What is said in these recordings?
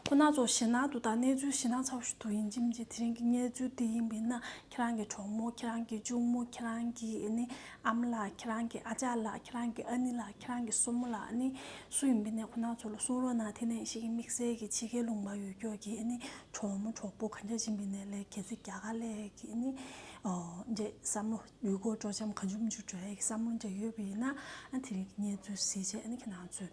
ཁོ་སྣ་ཚོགས་ཞེ་སྣང་དུ་དང་གནས་ཚུལ་ཞེ་སྣང་ཚ་བོ་ཞིག་ཏུ་ཡིན་ཁྱིམ་གྱི་དེ་རིང་གི་གནས་ཚུལ་འདི་ཡིན་པས་ན་ཁྱེད་རང་གི་གྲོགས་མོ་ཁྱེད་རང་གི་གཅུང་མོ་ཁྱེད་རང་གི་ནི་ཨ་མ་ལགས་ཁྱེད་རང་གི་ཨ་ཅག་ལགས་ཁྱེད་རང་གི་ཨ་ནེ་ལགས་ཁྱེད་རང་གི་སྲུ་མོ་ལགས་ནི་སུ་ཡིན་པས་ན་ཁོ་སྣ་ཚོགས་ལ་གསུང་རོགས་གནང་དེ་ནས་ཤིག་དམིགས་བསལ་གྱི་ཕྱི་རྒྱལ་ལུང་པ་ཡུལ་སྐྱོར་གྱི་ནི་གྲོགས་མོ་གྲོགས་པོ་གང་ཅག་ཕྱིན་པས་ན་ལས་ཁྱེད་ཚོས་རྒྱ་གར་ཀླད་ཀྱི་ནི་འདྲེ་བསམ་བློ་ཡུལ་སྐོར་སྤྲོ་འཆམ་གང་བྱུང་མི་འབྱུང་འདྲ་ཡི་གི་བསམ་བློ་འདྲ་ཡོད་པས་ན་དེ་རིང་གི་གནས་ཚུལ་གཟིགས་རྗེས་ནི་ཁྱེད་རང་ཚོས་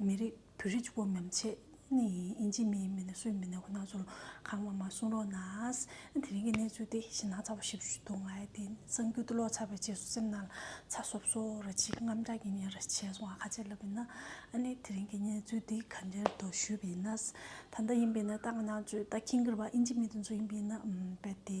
མི་རིགས། བོད་རིགས་བོད་མི་ཆེད་ནི་ཨིན་ཇི་མི་མི་ནི་སུའི་མི་ནི་ཁོ་ནག་ཚོར་ཁང་བ་མ་གསུང་རོགས་ནའས་དེ་རིང་གི་གནས་ཚུལ་དེ་ཤི་ནག་ཚ་བོ་ཞིབ་ཞུ་དུང་ལའི་དེ་གསང་རྒྱུ་དུ་ལོག་ཚར་བའི་རྗེས་སུ་སེམས་ནང་ལ་ཚ་སོབ་སོབ་ར་ཅིག་རྔམ་དྲག་གི་ཉིན་ར་བྱས་སོང་བ་ཁ་ཆད་ལབ་པས་ན་ཨ་ནི་དེ་རིང་གི་གནས་ཚུལ་དེ་ག་འདྲེར་དོ་ཞུས་པས་ན་ད་ལྟ་ཡིན་པས་ན་ད་ང་ནག་ཚོས་ད་ཁིང་གིར་བ་ཨིན་ཇི་མི་དེ་ཚོ་ཡིན་པས་ན་བལ་དེ་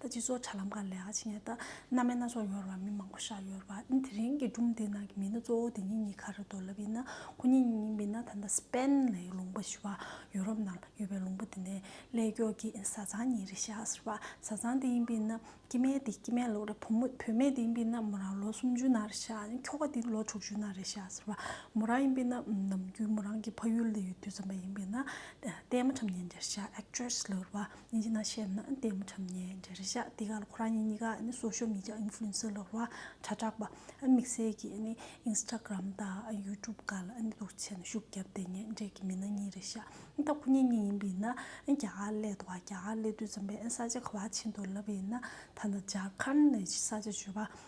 ད་སྤྱི་ཚོགས་དྲ་ལམ་གང་ལེགས་ཀྱི་ངེས་ད་སྣ་མའི་སྣ་ཚོགས་ཡོང་རུང་མི་མང་པོ་བཞག་ཡོད་རུང་ཨ་དེ་རིང་གི་སྒྲུང་དེ་ནང་གི་མི་སྣ་གཙོ་བོ་དེ་གཉིས་གཉིས་ཁ་རེ་དོ་ལབ་ཡིན་ན་ཁོ་གཉིས་གཉིས་གཉིས་མིན་ན་ད་ལྟ Spain ལའི་ལུང་པ་ཞི་བ་ཡུ་རོབ་ནང་ཡོད་པའི་ལུང་པ་དེ་ནས་ཀླད་སྐྱོ་གི་བཟའ་ཚང་གཉིས་རེ་བཞག་ཟེར་བ་བཟའ་ཚང་དེ་ཡིན་པའི་ན་སྐྱེ་མེད་དེ་སྐྱེ་མེད་ལོ་རེ་བུ་མོ་བུད་མེད་དེ་ཡིན་པའི་ན་མོ་རང་ལོ་སུམ་ཅུ་ན་རེ་བཞག་ཁྱོ་ག་དེ་ལོ་དྲུག་ཅུ་ན་རེ་བཞག་ཟེར་བ་མོ་རང་ཡིན་པའི་ན་ནམ་རྒྱུན་མོ་རང་གི་ཕ་ཡུལ་ལ་ཡོད་དུས་རྩམ་པ་ཡིན་པའི་ན་བསྟན་མ་ཁྲམ་ཉན་རྒྱར་བཞག Actress ལོ་རེ་བ། ཉིན་ཞིག་ན་ཤེར་ནའི་ལྟད་མོ་འཁྲབ་ནས་འདྲེ་རེ་བཞག་དེ་གར་ཁོ་རང་ཉིད་གཉིས་ཀ་གསོ་ཤོག་མི་འཇགས Influencer ལོག་རོ་དྲ་གྲགས་པ་དམིགས་བསལ་གྱི Instagram དང YouTube ག་ལ་འདུག་བྱས་ནས་ཤུགས་བརྒྱབ་དེ་ཉེ་འབྲེལ་གྱི་མི་སྣ་གཉིས་རེ་བཞག་ད་ཁོ་གཉིས་གཉིས་ཡིན་པ་ཡིན་ན་རྒྱ་གར་སླེབས་འདུག་རྒྱ་གར་སླེབས་དུས་ཙམ་པའི་ས་ཆ་ག་བ་ཕྱིན་འདུག་ལབ་པ་ཡིན་ན་ད་ནི་ཇར་ཁཱན་ནས་ས་ཆ་བརྗོད་པ་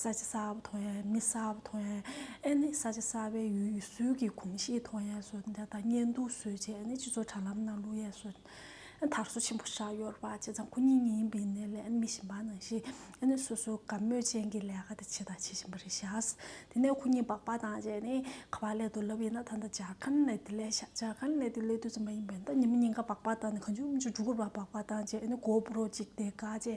ས་ཆ་གསར་བ་ཐོན་ཡས་མི་གསར་བ་ཐོན་ཡས་ཨེ་ནི་ས་ཆ་གསར་བའི་ཡུལ་ཡུལ་སྲོལ་གྱི་གོམས་གཤིས་ཐོན་ཡས་སུ་དེ་དང་གཉེན་འདུག་སུས་བྱས་ཨེ་ནི་སྤྱི་ཚོགས་དྲ་ལམ་ནང་ལུས་ཡས་སུ་དར་སོ་ཆེན་པོ་བཞག་ཡོད་པ་བྱས་ཙང་ཁོ་གཉིས་གཉིས་ཡིན་པའི་གནས་ལས་ཨེ་ནི་མི་གཞན་པ་ནང་བཞིན་ཨེ་ནི་སོ་སོའི་དགའ་མོས་ཅན་གྱི་ལས་ཀ་དེ་བྱས་དང་བྱེད་བཞིན་པ་རེད་བཞག་དེ་ནས་ཁོ་གཉིས་སྦག་སྦག་དང་བཅས་ནས་ཁ་བ་ལས་དུ་ལབ་ཡིན་ན་ད་ལྟ་ཇག་ཁང་ནས་དེ་ལས་བཞག་ཇག་ཁང་ལས་དེ་ལས་དུས་ཙམ་པ་ཡིན་པས་ད་ཉི་མ་གཉིས་ཀ་སྦག་སྦག་དང་གང་བྱུང་མི་བྱུང་དྲུག་འགོར་བ་སྦག་སྦག་དང་བཅས་ཨེ་ནི་སྒོར་བུ་རོགས་གཅིག་དེ་ག་བཅས།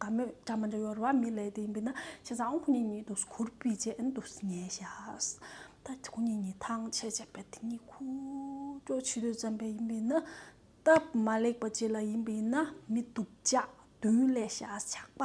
དགའ་མོས་སྒྲ་མ་འདྲ་ཡོར་བ་མི་ལས་དེ་ཡིན་པས་ན་བྱས་ཙང་ཁོ་གཉིས་གཉིས་དུས་ཁུར་པི་བྱས་ཨེ་འདུག་ཟེར་ཉེས་བྱས། ད་ཁོ་གཉིས་གཉིས་ཐང་ཆད་བྱས་པས་དེ་གཉིས་ཁུ་བྲོ་ཆུད་དུས་བརྩམས་པས་ཡིན་པས་ན། སྟབས་མ་ལེགས་པ་བྱས་ལ་ཡིན་པས་ན་མི་འདུག་ལྕགས་བདུན་ལས་བྱས་ཆགས་པ་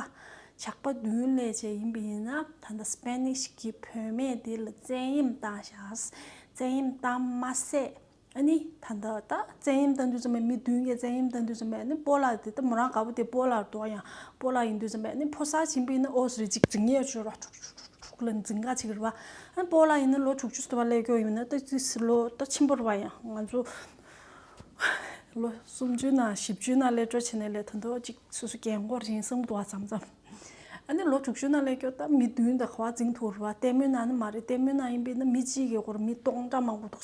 ཆགས་པ་བདུན་ལས་བྱས་ཡིན་པས་ན་ད་ལྟ Spanish གི་བུད་མེད་དེ་ལ་བཙན་གཡེམ་བཏང་བྱས། བཙན་གཡེམ་བཏང་མ་ཟད་ཨ་ནི་ད་ལྟ་བཙན་གཡེམ་བཏང་དུས་ཙམ་མས་མི་བདུན་གྱིས་བཙན་གཡེམ་བཏང་དུས་ཙམ་མས་ནི་སྤོ་ལགས་དེ་ལྟ་མོ་རང་དགའ་པོ་དེ་སྤོ་ལགས་འགྲོ་ཡང་སྤོ་ལགས་ཡིན་དུས་ཙམ་མས་ནི་ཕོ་གསར་ཆེན་པོ་ཡིན་ན་ཨོ་ཟེར་གཅིག་འཛིང་ངེར་བྱོས་ར་ཁྲུག་ཁྲུག་ཁྲུག་ཁྲུག་ཁྲུག་ལ་འཛིང་ག་ཅིག་རེད་བ། ཨ་ནི་སྤོ་ལགས་ཡིན་ན་ལོ་དྲུག་ཅུ་ཟེར་བ་ཀླད་སྐྱོགས་ཡིན་ན་ཏི་ཏི་ཟེར་ལོ་ཏོ་ཆེན་པོ་རེད་བ་ཡང་ང་ཚོ་ལོ་སུམ་ཅུ་ན་བཞི་བཅུ་ན་ཀླད་སྐྱོགས་བྱས་ནས་ལས་ཐོན་ཐོག་ཅིག་སོ་སོ་རྒན་མགོ་རིང་སེམས་དུ་བ་ཙམ་ཙམ། ཨ་ནི་ལོ་དྲུག་ཅུ་ན་ཀླད་སྐྱོགས་ཏ་མི་བདུན་ད་ག་བ་འཛིང་ཐུག་རེད་བ་ལྟད་མོ་ན་ནི་མ་རེད་ལྟད་མོ་ན་ཡིན་པས་ནི་མི་གཅིག་གི་སྒོར་མི་སྟོང་ཕྲག་མང་པོ་འདུག་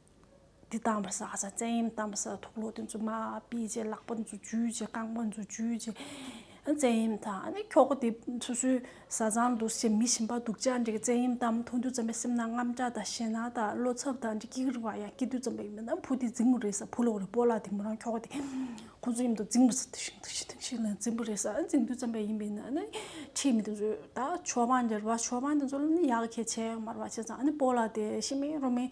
དེ་བཏང་བར་ས་ས་བཙན་གཡེམ་བཏང་བར་ས་ཐོག་ལོ་དེ་ཚོ་མ་སྤེལ་རྗེས་ལག་པ་འཛུགས་རྒྱུའི་རྗེས་རྐང་པ་འཛུགས་རྒྱུའི་རྗེས་བཙན་གཡེམ་དང་ཨ་ནི་ཁྱོ་ག་དེ་སོ་སོའི་བཟའ་ཚང་དུ་ཞེ་མི་ཞིམ་པ་སྡུག་ཅག་འདྲེ་བཙན་གཡེམ་བཏང་མཐོང་རྒྱུ་ཙམ་པའི་སེམས་ནང་རྔམ་སྐྲག་དང་ཞེད་སྣང་དང་བློ་འཚབ་དང་འདྲེ་སྐྱིད་རིང་བ་ཡང་སྐྱིད་དུས་ཙམ་པའི་མི་རྣམས་བུ་དེ་རྫིང་བུ་རེད་ས་བུ་ལོག་རེད་པོ་ལགས་དེ་མོ་རང་ཁྱོ་ག་དེ་ཁོ་ཚོ་གཡེམ་དུ་རྫིང་བུ་ས་དེ་ཤིང་དེ་ཤིང་དེ་ཤིང་ལ་རྫིང་བུ་རེད་ས་རྫིང་དུས་ཙམ་པའི་ཡིན་པའི་ནང་ནས་ཁྲིད་མི་དེ་ཚོ་ད་ཆོས་པ་འདྲེར་བ་ཆོས་པ་དེ་ཚོ་ཡག་ཁྱེད་ཆེ་མར་བ་ཆེ་ཚང་ཨ་ནི་པོ་ལགས་དེ་ཤི་མིན་རོ་མིན་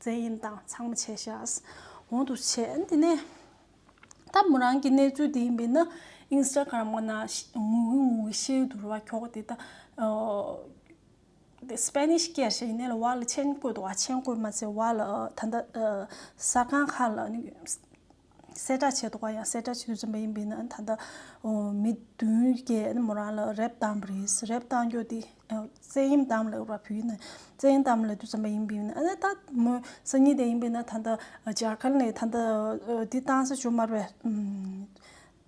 རྫས་ཡིན་དང་ཚང་མ་བྱས་ཤགས། འོང་དུ་ཆས། འདི་ནས་ད་མོ་རང་གི་གནས་ཚུལ་དེ་ཡིན་པས་ན Instagram ག་ན་ངུ་གི་ངུ་གི་ཤེའུ་དུར་བ་ཁྱོག་དེ་ད Spanish སྐད་ཞེས་ཡིན་ནའི་ལ་བ་ལ་མཆན་བཀོད་འདུག་བ་མཆན་བཀོད་མ་ཚད་བ་ལ་ད་ད་ཟ་ཁང་ཁག་ལ་གསལ་བསྒྲགས་བྱས་འདུག་པ་ཡང་གསལ་བསྒྲགས་བྱེད་བཞིན་པ་ཡིན་པས་ན་ད་ལྟ་མི་བདུན་བརྒྱད་མོ་རང་ལ་རེབ་བཏང་བ་རེད། རེབ་བཏང་རྒྱུ་དེ་བཙན་གཡེམ་བཏང་བ་ལས་འོས་པ་བུ་ཡིན་ན་བཙན་གཡེམ་བཏང་བ་ལས་དུ་བརྩམས་པ་ཡིན་པས་ན་ད་མོ་སང་ཉིན་དེ་ཡིན་པས་ན་ད་ལྟ་རྒྱ་གར་ནས་ད་ལྟ་འདི་བཏང་ས་བྱུང་མར་བས།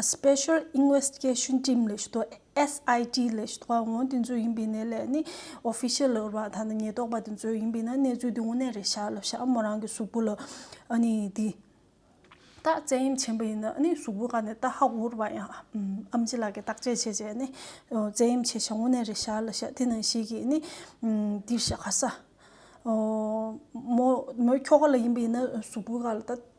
Special Investigation Team ལས་ཞུ་དོགས SIT ལས་ཞུ་དོགས་དབང་དེ་ཚོ་ཡིན་པའི་ནད་ལས་ནི Official ལས་རོགས་དང་ཉེན་རྟོག་པ་དེ་ཚོ་ཡིན་པའི་ན་གནས་ཚུལ་དེ་དངོས་གནས་རེད་ཤག་ལབ་ཤག་མོ་རང་གི་གཟུགས་པོ་ལ་ནི་དེ་ད་བཙན་གཡེམ་བྱེད་པ་ཡིན་ན་ནི་གཟུགས་པོ་ག་ནས་ད་ཧ་གོ་རུ་བ་ཡང་ཨམ་ཅི་ལགས་ཀྱི་བརྟག་དཔྱད་བྱས་བྱས་ནི་བཙན་གཡེམ་བྱས་ཤག་དངོས་གནས་རེད་ཤག་ལབ་ཤག་དེ་ནང་ཞིག་གིས་ནི་འདིར་ཤག་ག་ས་མོ་མོ་ཁྱོ་ག་ལ་ཡིན་པའི་ན་གཟུགས་པོ་ག་ལ་ད།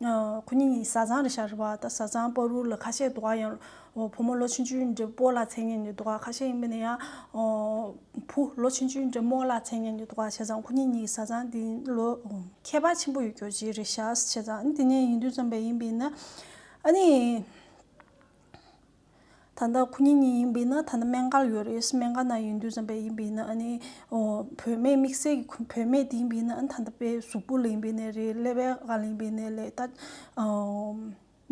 ཁོ་གཉིས་ནི་བཟའ་ཚང་རེད་ཤག་རེད་བ་ད་བཟའ་ཚང་སྤོ་རུ་ལ་ཁ་ཤས་འདུག་བ་ཡང་བུ་མོ་ལོ་ཆེན་ཆུའི་འདྲེ་སྤོ་ལ་མཚན་ཉིད་ནི་འདུག་བ་ཁ་ཤས་ཡིན་པ་ནི་ཡང་བུ་ལོ་ཆེན་ཆུའི་འདྲེ་མོ་ལ་མཚན་ཉིད་ནི་འདུག་བ་བྱས་ཙང་ཁོ་གཉིས་གཉིས་ཀྱི་བཟའ་ཚང་འདི་ལོ་ཁྱད་པར་ཆེན་པོ་ཡོད་རྒྱུ་གཅིག་རེད་ཤག་བྱས་ཙང་འདི་ནས་ཡིན་དུས་ཙམ་པས་ཡིན་པས་ན་ཨ་ནི། ད་ལྟ་ཁོ་གཉིས་གཉིས་ཡིན་པས་ན་ད་ལྟ་སྨན་སྒར་ཡོད་རེད་སྨན་སྒར་ན་ཡོད་འདུག་བསམ་པས་ཡིན་པས་ན་ཨ་ནི། བུད་མེད་དམིགས་བསལ་གྱི་ཁོ་བུད་མེད་དེ་ཡིན་པས་ན་ཨ་ནི་ད་ལྟ་དཔེ་གཟུགས་པོ་ལ་ཡིན་པས་ན་རེད་ཀླད་པའི་ཧ་ལ་ཡིན་པས་ན་ལས་ད།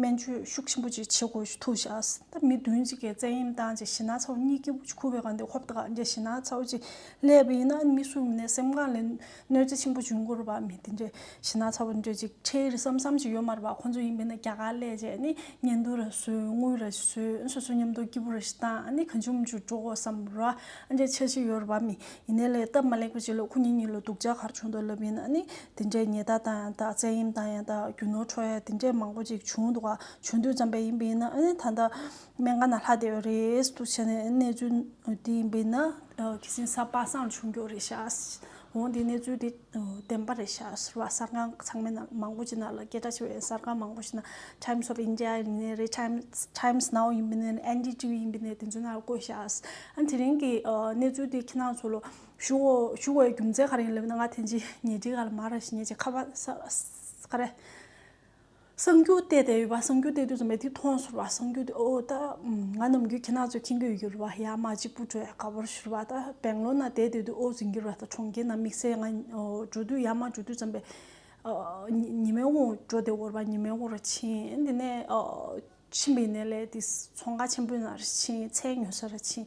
སྨན་བཅོས་ཤུགས་ཆེན་པོ་ཅིག་བྱེད་དགོས་ཐུག་བཞག་ད་མི་བདུན་ཅིག་གི་བཙན་གཡེམ་བཏང་ཅིག་ཞེ་ན་ཚ་བོ་གཉིས་ཀྱིས་ཁུ་བའི་གང་དེ་ཧོབ་ཏུ་ག་འདྲ་ཞེ་ན་ཚ་བོ་ཅིག་ཀླད་པ་ཡིན་ན་ཨ་ནི་མི་སུ་ཡིན་པས་ན་སེམས་ཁམས་ལས། གནོད་འཚེ་ཆེན་པོ་བྱུང་སྐོར་བ་མི་དེ་འདྲས་ཤི་ན་ཚ་བོ་འདྲས་ཅིག་ཁྲེལ་བསམ་བསམ་ཅིག་ཡོད་མ་རེད་པ་ཁོང་ཚོ་ཡིན་པས་ན་རྒྱ་གར་ལས་བྱེད་ནི་ཉན་ཐོས་ར་བཟོས་དངུལ་ར་བཟོས་སོ་སོའི་ཉམས་རྟོགས་སྐྱིད་པོ་ར་ཞིག་བཏང་ནི་གང་བྱུང་མི་བྱུང་འགྲོ་བསམ་ར་འདྲས་ཆགས་ཤིག་ཡོད་རེད་པ་མི་ཡིན་ནའི་ལས་སྟབས་མ་ལེགས་པ་ཅིག་ལ་ཁོ་གཉིས་གཉིས་ལ་སྡུག་ཅག་གར་བྱུང་འདུག་ལབ་ཡིན་ནི་དེ་འདྲས་ཉེས་རྟགས་བཏང་ཡང་དག་བཙན་གཡེམ་བཏང་ཡང་དག་རྒྱུ་ནོར་འཕྲོག་ཡ་དེ་འདྲས་མང་པོ་ཅིག་བྱུང་འདུག་བྱུང་དུས་བརྩམས་པ་ཡིན་པས་ན་ད་ལྟ་མན་ངག་ན་ལྷ་དེ་ཡོད་རེད་དུ་བྱས་ནས་གནས་ཚུལ་དེ་འབིན་ན་ཁྱེད་སེམས་ས་པ་སངས་བྱུང་རྒྱུ་རེད་ཤག་འོན་ཏེ་གནས་ཚུལ་དེ་བདེན་པ་རེད་ཤག་ཟེར་བ་གསར་ཁང་ཚང་མའི་ནང་མང་པོ་ཅིག་ནང་ལ་སྐད་གྲགས་ཆེ་བའི་གསར་ཁང་མང་པོ་ཞིག་ན Times of India ཡིན་པའི་རེད Times Now ཡིན་པའི་རེད NDTV ཡིན་པའི་རེད་དེ་ཚོའི་ནང་ལ་བཀོད་ཤག་ཨ་དེ་རིང་གི་གནས་ཚུལ་དེ་ཁྱེད་རྣམས་ཚོ་ལ་ཞུ་བའི་རྒྱུ་མཚན་ག་རེ་ཡིན་སླེབས་ན་ང་ཐེངས་གཅིག་ཉལ་ཁྲིའི་ག་ལ་མར་ར་ཞིག་ཉལ་ཅིག་ཁ་བ་ས་རེད། གསང་རྒྱུད་གཏད་དེ་ཡོད་པ་གསང་རྒྱུད་གཏད་དུས་སུ་མེ་ཏིག་ཐོང་ཟུར་བ་གསང་རྒྱུད་འོ་ད་ང་ནམ་རྒྱུན་ཁྱེད་རྣམས་ཚོའི་ཁྱིམ་དུ་ཡུར་བ་ཡར་མ་གཅིག་པུ་བྲོས་ག་བུར་ཤུར་བ་ད་སྦེང་ལོར་ན་བསྡད་དེ་དུས་ཨོ་ཟིན་གྱི་རོལ་ད་གྲོང་ཁྱེར་ན་དམིགས་བསལ་ང་འགྲོ་དུས་ཡར་མ་འགྲོ་དུས་ཙམ་པས་ཉི་མའི་དབུང་འགྲོ་དེ་འོར་བ་ཉི་མའི་དབུང་རུ་ཕྱིན་དེ་ནས་ཕྱིན་པའི་ནས་ལས་དེ་མཚོ་འགག་ཆེན་པོའི་ནང་རུ་ཕྱིན་ཚལ་ཉོ་ས་རུ་ཕྱིན།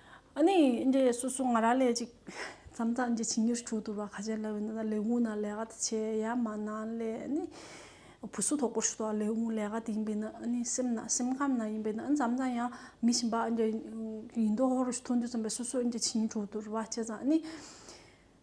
ཨ་ནི་འདྲེ་སོ་སོ་ང་ར་ལས་ཅིག། མཚམས་ཚ་འདྲེ་ཆིང་ཉེར་དྲུག་དུ་བ་ཁ་ཆེ་ལ་བའི་ན་ད་ལེ་འུ་ན་ལེ་ག་ད་ཆེ་ཡ་མ་ན་ལེ་ཨ་ནི། བུ་སུ་དོག་པོ་ཤུ་ད་ལེ་འུ་ལེ་ག་ད་ཡིན་པའི་ན་ཨ་ནི་སེམས་ན་སེམས་ཁམས་ན་ཡིན་པའི་ན་མཚམས་ཚ་ཡང་མི་ཞིམ་པ་འདྲེ་ཡིན་དོ་ཧོ་རུ་ཤུ་ཐུང་དུ་ཚོམ་པའི་སོ་སོ་འདྲེ་ཆིང་ཉེར་དྲུག་དུ་རུ་བ་ཆེ་ཚ་ཨ་ནི།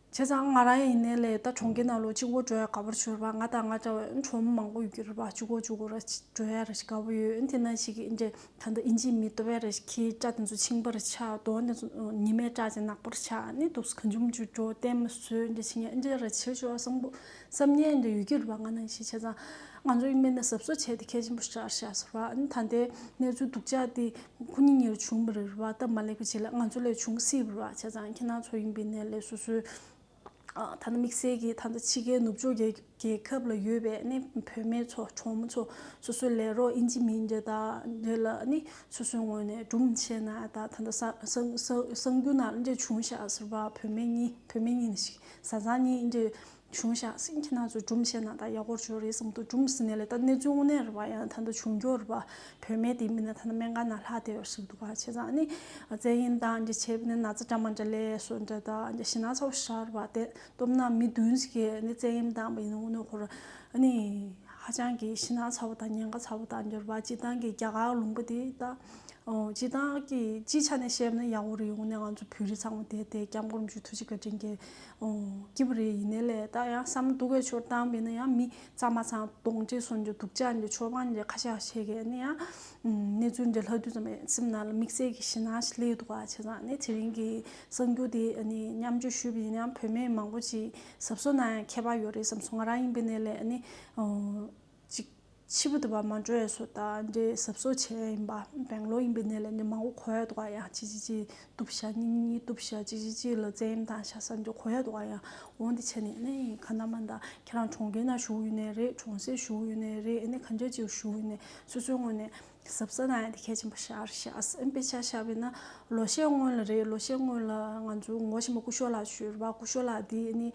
བྱས་ཙང་ང་རང་ཡིན་ནའི་ལས་ད་གྲོང་ཁྱེར་ནང་ལོ་གཅིག་འགོར་འགྲོ་ཡ་དགའ་པོར་གྱུར་པ་ང་དང་ང་འདྲ་བའི་ཁྲོ་མོ་མང་པོ་ཡོད་ཀྱི་རེད་པ་བཅུ་གོ་བཅུ་གོ་ར་འགྲོ་ཡ་རེད་དགའ་པོ་ཡོད་དེ་ན་ཞིག་ཨིན་འདྲེ་ད་ལྟ་ཨིན་ཇིའི་མི་ཏོ་བས་རེད་ཁྱི་སྐྲ་དེ་ཚོ་ཆིངས་པར་ཆགས་གདོང་དེ་ཚོ་ཉི་མའི་སྐྲ་ཅན་ནག་པོར་ཆགས་ནས་འདུག་ག་འཇུམ་འཇུ་འགྲོ་བསྟན་མ་བཟོད་འདྲེ་ཆིངས་ཡ་ཨིན་འདྲེ་ར་བྱེད་ཆོག་བསམ་པོ། སེམས་ངལ་འདི་ཡོད་ཀྱི་རེད་པ་ང་ནང་བཞིན་བྱས་ཙང། ང་ཚོ་ཡིན་མིན་ནས་ཟབ་གསོ་བྱས་ཏེ་གལ་ཆེན་པོ་ཞིག་རེད་ཟེར་བ་ཨ་ནི་ད་ལྟའི་གནས་ཚུལ་སྡུག་ཅག་འདི་ཁོ་གཉིས་གཉིས་ལ་བྱུང་མི་རེད་བ་སྟབས་མ་ལེགས་པ་ཅིག་ལ་ང་ཚོ་ལས་བྱུང་སྲིད་རེད་བ་བྱས་ཙང་ཁྱེད་ནང་ཚོ་ཡིན་པའི་གནས་ལས་སོ་སོའི་ད་ནི་དམིགས་བསལ་གྱིས་ད་ལྟ་ཕྱི་རྒྱལ་ནུབ་ཕྱོགས་རྒྱལ་ཁབ་ལ་ཡོད་པའི་ཨ་ནི་བོད་མི་ཚོ་གྲོང་མི་ཚོ་སོ་སོའི་ལས་རོགས་ཨིན་ཇི་མིན་ཇི་དག་ལ་ཨ་ནི་སོ་སོའི་ངོས་ནས་སྒྲུབ་མི་བྱེད་ན་ད་ད་ལྟ་གསང་རྒྱུ་ནང་འདྲེ་བྱུང་བཞག་ཟེར་བ་བོད་མི་གཉིས་བོད་མི་གཉིས་ནི་ཞིག་བཟའ་ཚང་གཉིས་ཨིན་དྲི་གཞུང་ཤ་གསེང་གྱི་ནང་ཚུད་གྲུམ་ཆེ་ན་ད་ཡག་པོར་བྱོས་རེད་བསམ་འདུག་གྲུམ་ཟིན་ནས་ལེ་ད་གནས་ཚུལ་དངོས་གནས་རེད་བ་ཡང་ད་ལྟ་འབྱུང་འགྱོ་རེད་བ་བོད་མའི་དེ་མིན་ན་ད་ལྟ་མན་ག་ན་ལྷག་བསྡད་ཡོད་ཟེར་འདུག་བ་བྱས་ཙང་ནི་བཙན་ཡིན་ད་འདྲི་བྱས་པ་ནི་ན་ཚ་འདྲ་མ་འདྲ་ལས་སོ་འདྲ་ད་འདྲ་ཞི་ན་ཚ་བོ་ཤར་བ་བསྡད་སྟོབས་ན་མི་བདུན་ཟེར་གི་ནི་བཙན་ཡིན་ད་མི་ཡིན་ནོ་ཁོར་ནི་ཧ་ཅང་གི་ཞི་ན་ཚ་བོ་ད་ཉན་ག་ཚ་བོ་ད་འདྲ་བ་སྤྱི་བཏང་གི་རྒྱ་གར་ལུང་པ་དེ་ད། སྤྱི་བདག་གིས་སྤྱིའི་ཆ་ནས་བཤད་ན་གཡག་འོ་རི་ཡོང་ནས་ང་ཚོ་བོད་རི་ཚང་མ་དེད་དེ་སྐྱབས་མགོན་མཇུག་ཐུ་ཆི་ཀ་དྲིན་གྱི་སྐྱིད་པོ་རེད་ཡིན་ནའི་ལས་ད་ཡང་བསམ་བློ་སྡུག་གི་ཆོ་གཏམ་ཡིན་ན་ཡང་མི་ཚང་མ་ཚང་གདོང་གཅིག་བཟུང་རྒྱུ་སྡུག་ཅག་འདི་ཆོས་དཔང་འདི་ཁ་ཤག་བྱེད་མཁན་ནི་ཡང་གནས་ཚུལ་འདི་ལྷག་བསྡུས་ཙམ་ཡིན་སེམས་ནང་ལ་དམིགས་བསལ་གྱི་ཞེད་སྣང་ཞིག་སླེབས་འདུག་བ་ཆ་ཚང་ནི་དེ་རིང་གི་གསར་འགྱུར་དེ་ནི་མཉམ་བརྗོད་ཞུས་པ་ཡིན་ན་ཡང་བོད་མི་མང་པོ་ཅིག་ཟབ་སོ་ན་ཡང་མཁས་པ་ཡོད་རེད་བསམ་སོང་ང་རང་ཡིན་པའི་གནས་ལས་ནི་གཅིག། ཕྱི་བུ་དུ་བ་མ་འགྲོ་བའི་སོ་དང་འདྲེ་ཟབ་སོ་ཆེ་བ་ཡིན་པ། བེང་ལོག་ཡིན་པའི་གནས་ལ་འདྲེ་མང་བོ་གོ་ཡ་འདུག་བ་ཡང་གཅིག་གཅིག་གཅིག་གཏུབ་བྱ་གཉིས་གཉིས་གཏུབ་བྱ་གཅིག་གཅིག་གཅིག་ལ་བཙན་གཡེམ་དང་ཤ་ཟ་འདྲེ་གོ་ཡ་འདུག་བ་ཡང་འོང་འདི་བྱས་ནས་ཨེ་ནས་ཁ་ན་མ་འདའ་ཁྱེད་རང་གྲོང་ཁྱེར་ན་བཞུགས་ཡོད་ནའི་རེད་གྲོང་གསེབ་བཞུགས་ཡོད་ནའི་རེད་ཨེ་ནས་ག་འདྲ་ཅིག་བཞུགས་ཡོད་ནའི་སོ་སོའི་སྔོན་ནས་ཟབ་ས་ན་ཡང་དེ་གལ་ཆེན་པོ་ཤར་ཤགས་ཨེ་དཔེ་ཆ་ཤར་བས་ན་ལོ་ཤས་སྔོན་ལ་རེད་ལོ་ཤས་སྔོན་ལ་ང་ཚོའི་ངོ་ཤེས་པ་སྐུ་ཞོགས་ལགས་བྱོས་ར་བ་སྐུ་ཞོགས་ལགས་འདི་ཨེ་ནས་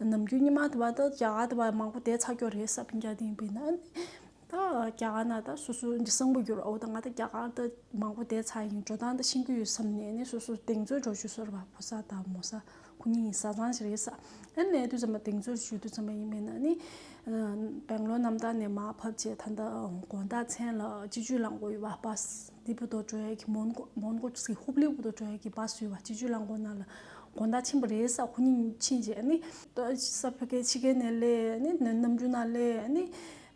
ནམ་རྒྱུན་ཉི་མ་དེ་བ་དང་བྱ་ག་དེ་བ་མང་པོ་དེ་ཚ་སྐྱོ་རེད་ས་ཕིང་ཀྱ་དེ་ཡིན་པས་ན་ད་བྱ་ག་ན་ད་སོ་སོ་འདི་སང་པོ་འགྱུར་བ་འོ་ད་ང་ད་བྱ་ག་ད་མང་པོ་དེ་ཚ་ཡིན་འགྲོ་སྟངས་ད་ཤིན་གྱི་ཡོད་བསམ་ནས་ནི་སོ་སོ་གདེང་ཚོད་འགྲོ་ཆུ་སོར་བ་ཕོ་ས་ད་མོ་ས་ཁོ་གཉིས་ཡིན་ས་ཚང་ཞིག་རེད་ས་ཨེ་ནས་དུས་ཚོད་མ་གདེང་ཚོད་ཞུ་དུས་ཚོད་མ་ཡིན་པས་ན་ནི་སྦེང་ལོར་གནམ་བདག་ནས་མ་ཕབ་ཆེད་ད་ད་དགོངས་དག་མཚན་ལ་སྤྱི་ཇུས་ལངས་དགོས་ཡོད་བ་པ། ལི་པུ་ཏོ་ཀྲོའེ་ཁི་མོན་གོ། Mongol Ski Hub ལི་པུ་ཏོ་ཀྲོའེ་ཁི་སྦ་སུའི་བ་སྤྱི་ཇུས་རླངས་འཁོར་ནང་ལ་དགོན་བདག་ཆེན་པོ་རེའི་ས་ཁོ་གཉིས་ཕྱིན་རྗེས་ནི། ས་ཕོ་ཀའི་ཕྱི་རྒན་ནས་ལས་ནི་ནམ་རྒྱུན་ན་ལས་ནི།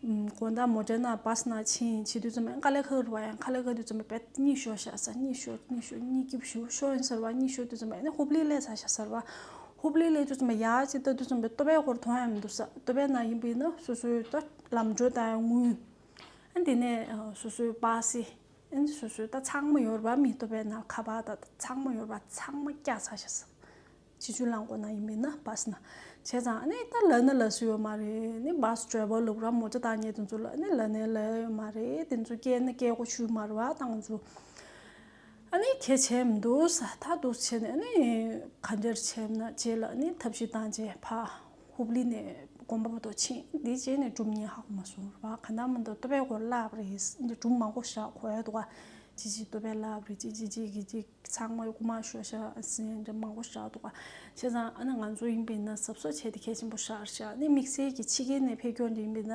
དགོན་བདག་མོ་ཏྲེ་ན་བ་སི་ན་ཕྱིན་བྱེད་དུས་རྩོམ་པའི་དཀའ་ལས་ཁག་རུ་བ་ཡང་ཁ་ལས་ཁག་དུས་རྩོམ་པའི་བེད་གཉིས་ཤོ་བཞག་ས་གཉིས་ཤོ་གཉིས་ཤོ་གཉིས་ཀྱི་བཞུ་ཤོ་ཡིན་ཟེར་བ་གཉིས་ཤོ་དུས་རྩོམ་པའི་ནི་ཧུབ་ལི་ལས་ས་བཞག་ཟེར་བ། ཧུབ་ལི་ལས་དུས་རྩོམ་པའི་ཡ་ཅི་ལྟ་དུས་རྩོམ་པའི་ལྟོ་བའི་སྐོར་དུ་ཡང་མི་འདུག་ས་ལྟོ་བའི་ནང་ཡིན་པའི་ནི་སོ་སོའི་ལྟོ། ལམ་འགྲོས་དང་དངུལ། འདི་ནས་སོ་སོའི་སྦ་སི། སོ་སོའི་ད་ཚང་མ་ཡོར་བ་མི་ལྟོ་བས་ན་ཁ་བ་ད་ཚང་མ་ཡོར་བ་ཚང་མ་སྐྱ་ཚ་ཤ་ཟ། བྱི་ཆུ་ལང་གོ་ན་ཡིན་པས་ན་སྦ་སི་ན། བྱས་ཙང་ནི་ད་ལ་ནི་ལ་སུ་ཡོ་མ་རེད་ནི་སྦ་སི་བྲོས་པ་ལུག་ར་མོ་ཅ་ད་ངས་དེ་ཚོ་ལ་ནི་ལ་ནི་ལ་ཡོ་མ་རེད་དེ་ཚོ་སྐྱས་ནི་སྐྱས་གོ་ཆུ་མར་བ་དང་ཚོ། ཨ་ནི་ཁྱེད་བྱས་མི་འདུག་ས་ད་དུག་བྱས་ནས་ནི་ག་འདྲེར་བྱས་ན་བྱས་ལ་ནི་ཐབས་ཤིག་དང་བྱས་ཕ། ཧུབ་ལི་ནས་དགོན་པ་པོ་ཏོ་ཕྱིན་དེའི་རྗེས་ནས་སྒྲུབ་གཉིས་ཧ་གོ་མ་སོང་བར་བ་ག་ན་མོ་འདུག་བསྟོད་པའི་སྐོར་བསླབས་རེད་འདི་སྒྲུབ་མང་པོ་བཞག་གོ་ཡ་འདུག་བ་ཅི་ཅི་བསྟོད་པའི་བསླབས་རེད་ཅི་ཅི་ཅི་གི་ཅི་ཚང་མ་སྐུ་མ་ཤོ་ཤ་ཟེར་འདྲ་མང་པོ་བཞག་འདུག་བ་བྱས་ཙང་ཨ་ན་ང་ཚོ་ཡིན་པས་ན་གཟབ་གཟབ་བྱས་ཏེ་གལ་ཆེན་པོ་བཞག་བཞག་ནས་དམིགས་བསལ་གྱི་ཕྱི་རྒྱལ་ནས་ཕེབས་སྐྱོར་འདི་ཡིན་པས་ན་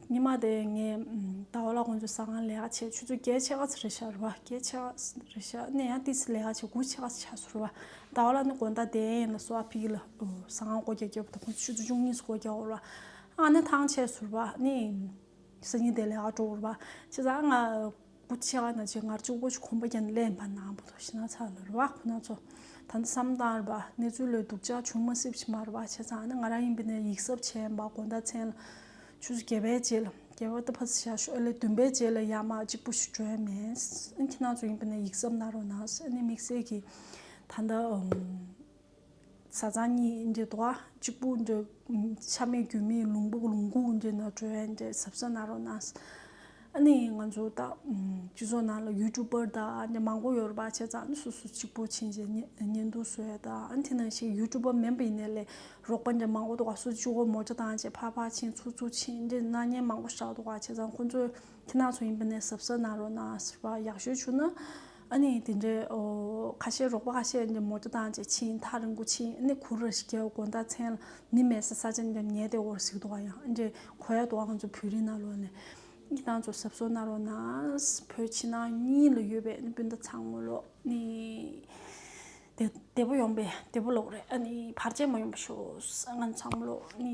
ཉི་མ་དེ་ངས་ད་བར་ལ་ཁོང་ཚོས་ས་ཁང་ལས་ཀ་བྱས་ཆུ་ཚོད་བརྒྱད་ཕྱེད་ཀ་ཚོད་རེ་བྱ་རུ་བ་བརྒྱད་ཕྱེད་ཀ་ཚོད་རེ་བྱ་ནས་ཡང་ཏི་སི་ལས་ཀ་བྱས་དགུ་ཕྱེད་ཀ་ཚོད་བྱ་སོ་རུ་བ་ད་བར་ལ་ནི་དགོན་བདག་དེ་ཡིན་ལ་སོ་ཨ་ཕི་ཡིས་ལ་ས་ཁང་སྒོ་རྒྱ་བརྒྱབ་པ་དང་ཁོང་ཚོས་ཆུ་ཚོད་བཅུ་གཉིས་སུ་སྒོ་རྒྱག་འོར་བ་ཨ་ནི་ཐང་ཆད་སོ་རུ་བ་ནི་ས་ཉིན་དེ་ལས་ཀ་འགྲོ་འོར་བ་ཕྱི་ཟ་ང་སྐུ་ཆེ་བ་ན་ཆེ་ངར་ཅིག་བོ་ཆུ་ཁོམ་པོ་ཀྱང་ལས་སྨར་ནག་པོ་དོ་ཞེ་ན་ཚ་ལ་རུ་བ་ཁོ་ན་ཚོ་ད་ནི་བསམ་སྟངས་རུ་བ་གནས་ཚུལ་ལོས་སྡུག་ཅག་ཆུང་མ་སྲིབ་ཆེ་མ་རུ་བ་ཆེ་ཚང་ནི་ང་རང་ཡིན་པས་ནི་ཡིག་ཟབ་ཆེན་པ་དགོངས་ད་མཚན་ལ་ཆུ་ཟུ་གྱེས་པའི་རྗེས་ལ་གྱེས་བ་ཏི་ཕ་ཟི་ཤ་ཤོ་ཨེ་ལས་བདུན་པའི་རྗེས་ལ་ཡ་མ་གཅིག་པོ་ཞིག་བྲོས་མེད་ཨེ་ཁྱེད་ན་ཚོ་ཡིན་པས་ནི་ཡིག་ཟབ་ན་རོ་ན་ཨེ་ནི་དམིགས་བསལ་གྱིས་ད་ནི་བཟའ་ཚང་གཉིས་འདྲེ་དོ་གཅིག་པུ་འདྲེ། ཆ་མེད་རྒྱུས་མེད་ལུང་པོ་ལུང་ཁུག་འདྲེ་ནག་གྲོལ་བའི་འདྲེ་ཟབ་ས་ན་རོ་ན། ཨ་ནི་ང་ཚོ་ད་སྤྱི་ཚོགས་ནང་ལ་ཡུ་ཏུ་པར་དག་འདྲེ་མང་པོ་ཡོད་རེད་པ་བྱས་ཙང་ཨ་ནི་སོ་སོ་གཅིག་པོ་ཕྱིན་ཅི་ཉན་དུ་སོ་ཡ་དག་ཨ་ནི་དེ་ནང་ཞིག་ཡུ་ཏུ་པར་མེན་པ་ཡིན་ནའི་ལས་རོགས་པ་འདྲེ་མང་པོ་དག་སུ་ཅི་ཧོ་མོ་ཅི་དང་བཅས་ཕར་ཕར་ཕྱིན་ཚུར་ཚུར་ཕྱིན་འདྲེ་སྣ་བརྙན་མང་པོ་བཞག་དག་བྱས་ཙང་ཁོ་ཚོ་དེ་ནང་ཚོ་ཡིན་པ་ནས་ཟབ་ས་ན་རོ་ན་ཟེར་བ་ཡག་ཤོས་བྱུང་ན། ཨ་ནི་དེ་འདྲའི་ཁ་ཤས་རོགས་པ་ཁ་ཤས་མོ་རྒྱུ་དང་བཅས་ཕྱིན་མཐའ་རིང་པོ་ཕྱིན་ཨ་ནི་གུར་ར་ཞིག་རྒྱལ་བ་དགོན་བདག་ཚན་ལ་མི་མེད་ས་ས་ཅན་ཉལ་ཏེ་འོར་ཟིག་འདུག་ཡང་ཨ་འདྲའི་གོ་ཡ་དོ་ཨང་ཚོ་བོད་རིགས་ནང་ལོགས་ནས་གཉིས་དང་ཚོ་ཟབ་སོ་ན་རོ་ན་བོད་ཕྱི་ནང་གཉིས་ལ་ཡོད་པའི་ཨ་ནི་སྤུན་ཟླ་ཚང་མོ་ལོ་ནི་བདེ་པོ་ཡོང་པའི་བདེ་པོ་ལོག་རེད་ཨ་ནི་བར་ཆད་མ་ཡོང་པ་ཤོག་ཨ་ནི་ཚང་མོ་ལོ་ནི།